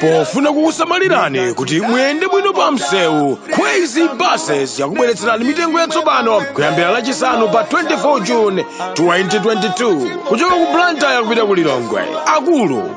pofuna kukusamalirani kuti muyende bwino pa msewu crazy buses yakubweretserani mitengo yatsopano kuyambira lachisanu pa 24 june 2022 kuchoka ku blantyre kupita ku lilongwe akulu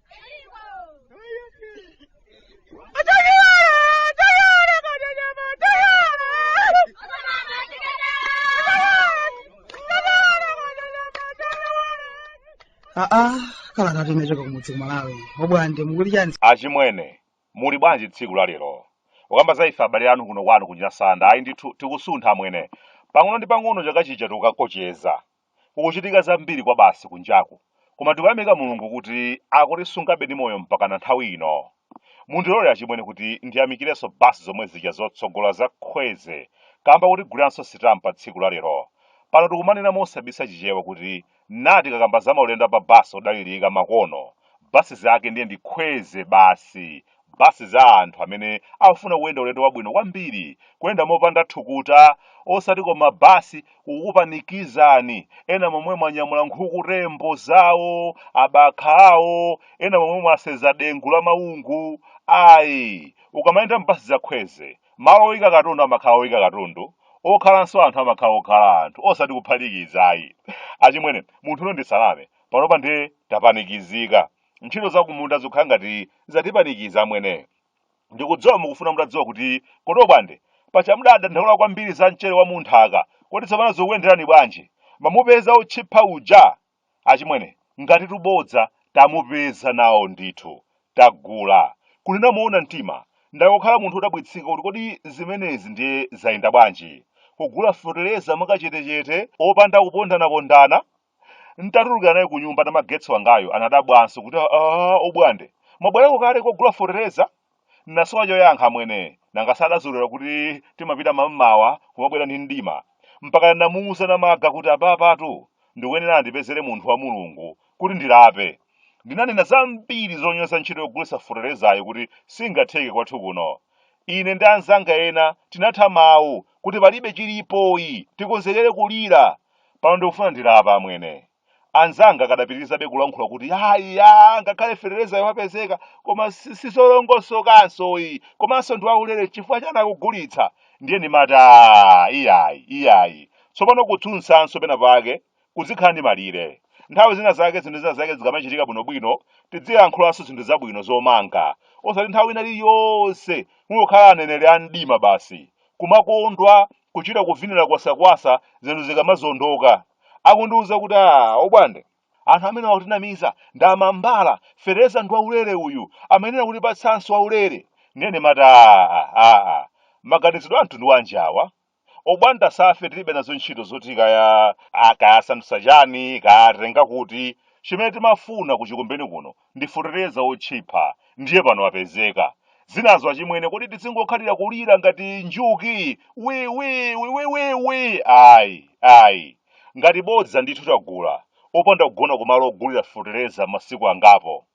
aa kalatatu nachoka kumudzi ku Malawi obwande mukuti chani achimwene muli bwanji tsiku la lero ukamba za ife abale anu kuno kwanu kunyasanda ayi ndithu tikusuntha amwene pang'ono ndi pang'ono chaka chija tikukakocheza Kukuchitika zambiri kwabasi kunjaku, koma tikuyamika Mulungu kuti akutisungabe ndi moyo mpakana nthawi ino. Mundilole achimwene kuti ndiyamikirenso bus zomwe zija zotsogola za Khweze kamba kotiguliranso sitampa tsiku la lero. Pano tikumanena mosabisa chichewa kuti tikakamba za maulendo a pa bus odalirika makono, bus zake ndiye ndi Khweze basi, Basi za anthu amene akufuna kuyenda ulendo wabwino kwambiri, kuyenda mopanda thukuta, osati koma basi kukupanikizani, ena momwemo anyamula nkhukutembo zawo, abakha awo, ena momwemo asenza dengu la mawungu. Ayi, ukamayenda m'basi za khweze, malo oyika katundu amakhala oyika katundu, okhalanso anthu amakhala okhala anthu, osati kuphatikiza ayi. Achimwene, muntunu ndisaname, panopa ndiye tapanikizika. ntchito zakumunda zikukhala ngati zatipanikiza amwene ndikudziwa mukufuna mutadziwa kuti kodi obwande paja mumadandaula kwambiri za mchere wa munthaka kodi tsopano zikuyenderani bwanji mwamupeza otchipha uja achimwene ngati tubodza tamupeza nawo ndithu tagula kunena moona mtima ndakhala munthu odabwitsika kuti kodi zimenezi ndiye zayenda bwanji kugula fetereza mwakachetechete opanda kupondanapondana nditatulukira naye ku nyumba namagetsi wangayo anadabwanso kuti aa obwande mwabwerako kale kogula fotereza nasowa choyankha amwene nanga sadazolera kuti timapita mammawa kumabwera ndi mdima mpaka namuuza namaga kuti apapatu akuyenera andipezere munthu wa mulungu kuti ndilape ndinanena zambiri zonyoza ntchito yogulitsa foterezayi kuti singatheke kwathu kuno ine ndi anzanga ena tinatha mawu kuti palibe chilipo ayi tikonzekere kulira Pano ndikufuna ndilape amwene. Anzanga akadapitirizabe kulankhula kuti aa ya ngakhale fetereza yo wapezeka koma sizolongosokanso ayi komanso si waulere chifukwa chani akugulitsa ndiye ndimati "Ah, iyayi iyayi tsopano kutsutsanso pena pake kuzikhala ndi malire nthawi zina zake zinthu zina zake zikamachitika bwinobwino tidzilankhulanso zinthu zabwino zomanga osati nthawi ina iliyonse kungokhala aneneri a mdima basi kumakondwa kuchita kuvinira kwasakwasa zinthu zikamazondoka akundiuza kuti a obwande anthu amene akutinamiza ndi amambala fetereza ndi waulere uyu amayenera kutipatsanso waulere ndiye ndimati aa aa maganizidwe a mtundu wanji awa obwande ife tilibe nazo ntchito zoti kaya akayasandutsa chani kayatenga kuti chimene timafuna kuchikumbeni kuno ndi fetereza otchipha ndiye pano apezeka zinazo achimwene kodi tizingokhalira kulira ngati njuki wi wi wi wi wi wi ayi ayi ngati bodza ndithu tagula opanda kugona kumalo ogulira fetereza masiku angapo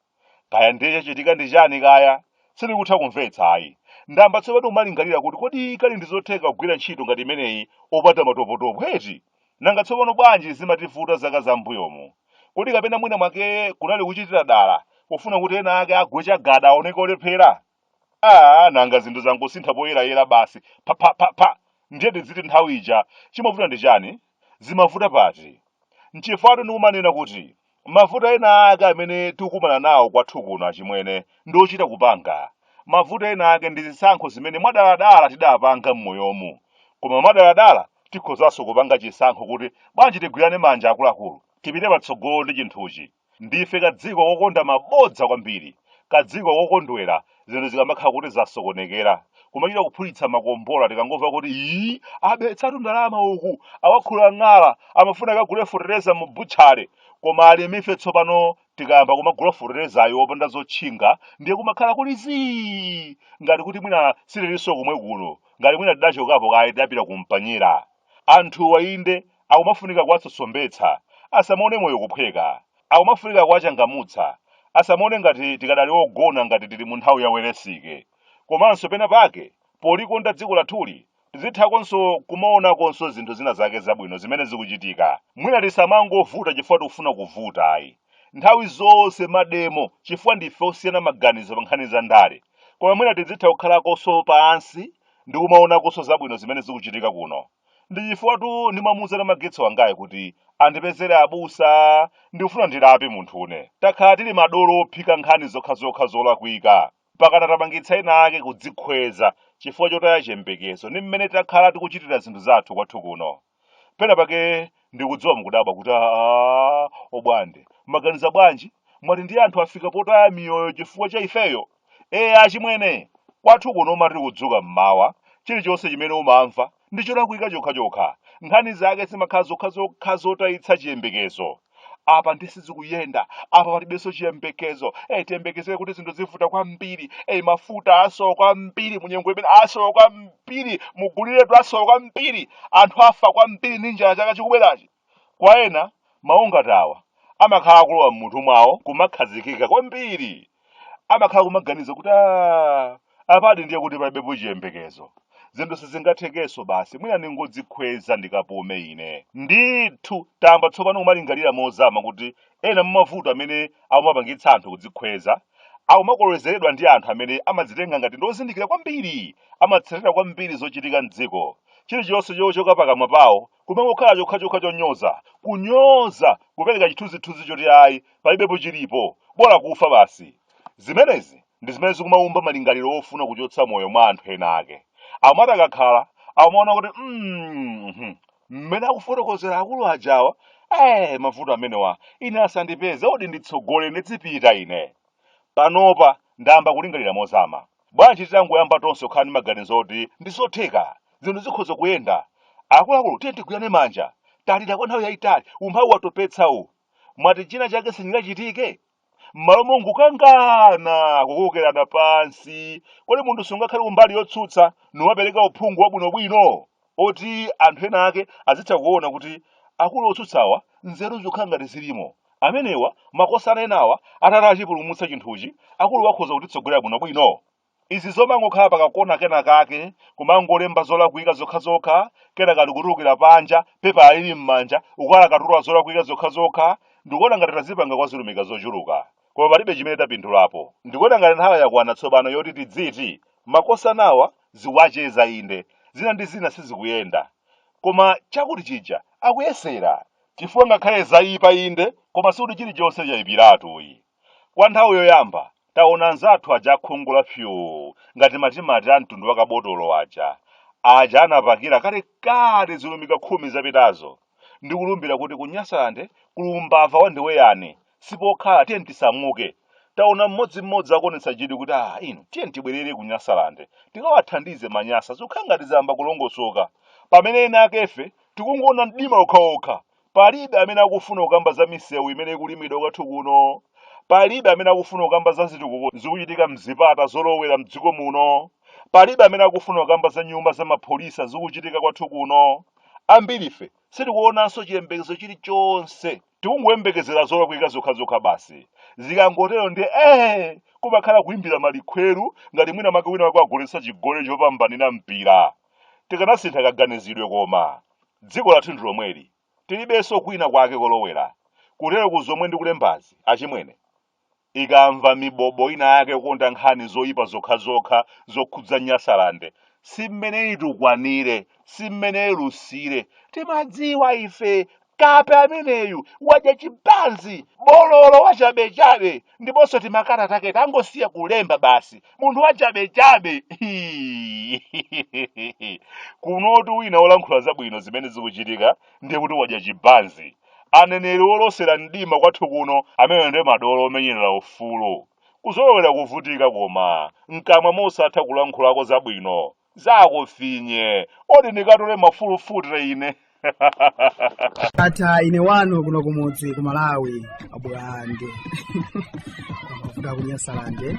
kaya ndiye chachitika ndi chani kaya sindikutha kumvetsa ayi ndayamba tsopano kumalingalira kuti kodi kani ndi zotheka kugwira ntchito ngati imeneyi opanda matopotopo eti Nanga tsopano bwanji zimativuta zaka za m'mbuyomu? Kodi kapena mwina mwake kunali kuchitira dala kufuna kuti ena ake agwe chagada aoneke olephera? Aa, nanga zinthu zangosintha poyerayera basi pha pha pha pha ndiye tidziti nthawi ija chimavuta ndi chani? Zimavuta pati? Nchifukwatu ndikumanena kuti mavuto ena ake amene tikukumana nawo kwathu kuno achimwene ndi ochita kupanga mavuto ena ake ndi zisankho zimene mwadaladala tidapanga m'mbuyomu koma mwadaladala tikhozanso kupanga chisankho kuti bwanji tigwirane manja akuluakulu tipite patsogolo ndi chinthuchi ndife kadziko kokonda mabodza kwambiri kadziko kokondwera zinthu zikamakhala kuti zasokonekera kumachita kuphulitsa makombola tikangomva kuti ii abetsatu ndalama uku awakhula ng'ala amafuna akagule fetereza mu butchale koma alimife tsopano tikayamba kumagula feterezayo opanda zotchinga ndiye kumakhala kuli zii ngati kuti mwina sitilinso kumwe kuno ngati mwina tidachokapo kaye tidapita kumpanyera anthu wainde akumafunika kuwasosombetsa asamaone moyo kuphweka Akumafunika kuwachangamutsa. Asamaone ngati tikadali ogona ngati tili mu nthawi ya Welensike. Komanso pena pake, polikonda dziko lathuli, tizithakonso kumaonakonso zinthu zina zake zabwino zimene zikuchitika. Mwina tisamangovuta chifukwa tikufuna kuvuta ayi. Nthawi zonse mademo chifukwa ndife osiyana maganizo pa nkhani za ndale. Koma mwina tizitha kukhalakonso pansi ndi kumaonakonso zabwino zimene zikuchitika kuno. ndi chifukwatu ndimamuuza Namagetsi wangayu kuti andipezere abusa ndikufuna ndilape munthune takhala tili madolo ophika nkhani zokhazokha zolakwika pakana tapangitsa ena ake kudzikhweza chifukwa chotaya chiyembekezo ndi mmene takhala tikuchitira zinthu zathu kwathu kuno pena pake ndikudziwa mukudabwa kuti aa obwande maganiza bwanji mwati ndi anthu afika potaya miyoyo chifukwa cha ifeyo ee achimwene kwathu kuno umati ukudzuka mmawa chilichonse chimene umamva ndi cholakwika chokhachokha nkhani zake zimakhala zokhazokha zotayitsa chiyembekezo apa ndiye sizikuyenda apa palibenso chiyembekezo eyi tiyembekezere kuti zinthu zivuta kwambiri eyi mafuta asowa kwambiri munyengo imene asowa kwambiri muguliretu asowa kwambiri anthu afa kwambiri ndi njala chaka chikubwerachi Kwa ena, mawu ngati awa amakhala akulowa m'mutu mwawo kumakhazikika kwambiri. Amakhala kumaganiza kuti aa, apatu ndiye kuti palibepo chiyembekezo. Zinthu sizingathekenso basi, mwina ndingodzikhweza ndikapume ine. Ndithu, tayamba tsopano kumalingalira mozama kuti ena mwa mavuto amene akumapangitsa anthu kudzikhweza akumakolezeredwa ndi anthu amene amadzitenga ngati ndi ozindikira kwambiri, amatsatira kwambiri zochitika m'dziko, chilichonse chochoka pakamwa pawo kumangokhala chokhachokha chonyoza kunyoza kupereka chithunzithunzi choti ayi palibepo chilipo bola kufa basi zimenezi ndi zimene zikumaumba malingaliro ofuna kuchotsa moyo mwa anthu ena ake amati akakhala amaona kuti "Mm, mhm, mmene akufotokozera akulu ajawa eh mavuto amenewa ine asandipeze odi nditsogole ndidzipita ine panopa ndayamba kulingalira mozama bwanji titangoyamba tonse kukhala ndi maganizo oti ndi zotheka zinthu zikhoza kuyenda akuluakulu tiye tigwirane manja talira kwa nthawi yayitali umphawi watopetsa uwu mwati china chake sichingachitike m'malo mongokangana kukokerana pansi kodi munthu sungakhale kumbali yotsutsa n'kumapereka uphungu wabwinobwino oti anthu ena ake azitha kuona kuti akulu otsutsawa nzeru zikukhala ngati zilimo amenewa makosana enawa atati achipumulitsa chinthuchi akuluwa akhoza kutitsogolera bwinobwino izi zomangokhala pakakona kena kake kumangolemba zolakwika zokhazokha kenaka uli kutulukira panja pepala ili m'manja ukulakatula zolakwika zokhazokha ndikuona ngati tazipanga kwa zilumika zochuluka koma palibe chimene tapindulapo. Ndikuona ngati nthawi yakwana tsopano yoti tidziti makosanawa zikuwacheza inde, zina ndi zina sizikuyenda, koma chakuti chija akuyesera, chifukwa ngakhale zayipa inde, koma sikuti chilichonse chayipiratu ayi. Kwa nthawi yoyamba taona anzathu aja akhungu la fyuu ngati matimati a mtundu wa kabotolo aja, aja anapakira kalekale zilumika khumi zapitazo, Ndikulumbira kuti ku Nyasalande kuli umbava wa ndiwe yani. Sipokhala, tiyeni tisamuke. Taona mmodzi mmodzi akuonetsa chidwi kuti ah inu tiyeni tibwerere ku Nyasalande tikawathandize Manyasa zikukhala ngati zayamba kulongosoka. Pamene ena akefe tikungoona mdima wokhawokha. Palibe amene akufuna kukamba za misewu imene ikulimidwa kwathu kuno. Palibe amene akufuna kukamba za zitukuko zikuchitika m'zipata zolowera m'dziko muno. Palibe amene akufuna kukamba za nyumba za mapholisa zikuchitika kwathu kuno. Ambirife sitikuonanso chiyembekezo chilichonse. Tikungoyembekezera zolakwika zokhazokha basi. Zikangotero ndiye ee! Kumakhala kuimbira malikhweru ngati mwina mwake wina wake wagoletsa chigoli chopambanira mpira. Tikanasintha kaganizidwe koma. Dziko lathu ndi lomweli. Tilibenso kwina kwake kolowera. Kuteroku zomwe ndikulembazi, achimwene. ikamva mibobo ina yake yokonda nkhani zoyipa zokhazokha zokhudza nyasalande si mmene itukwanire si mmene ilusire timadziwa ife kape ameneyu wadya chibanzi bololo wachabechabe ndiponso timakalata take tangosiya kulemba basi munthu wachabechabe kunotu wina olankhula zabwino zimene zikuchitika ndiye kuti wadya chibanzi aneneri olosera mdima kwathu kuno amenewo ndiye madolo omenyerera ufulu kuzolowera kuvutika koma mkamwa mosatha kulankhulako zabwino zakufinye odi ndikatole mafulufute ine ndatha ine wanu kuno kumudzi ku malawi abwande kuda kunyasalande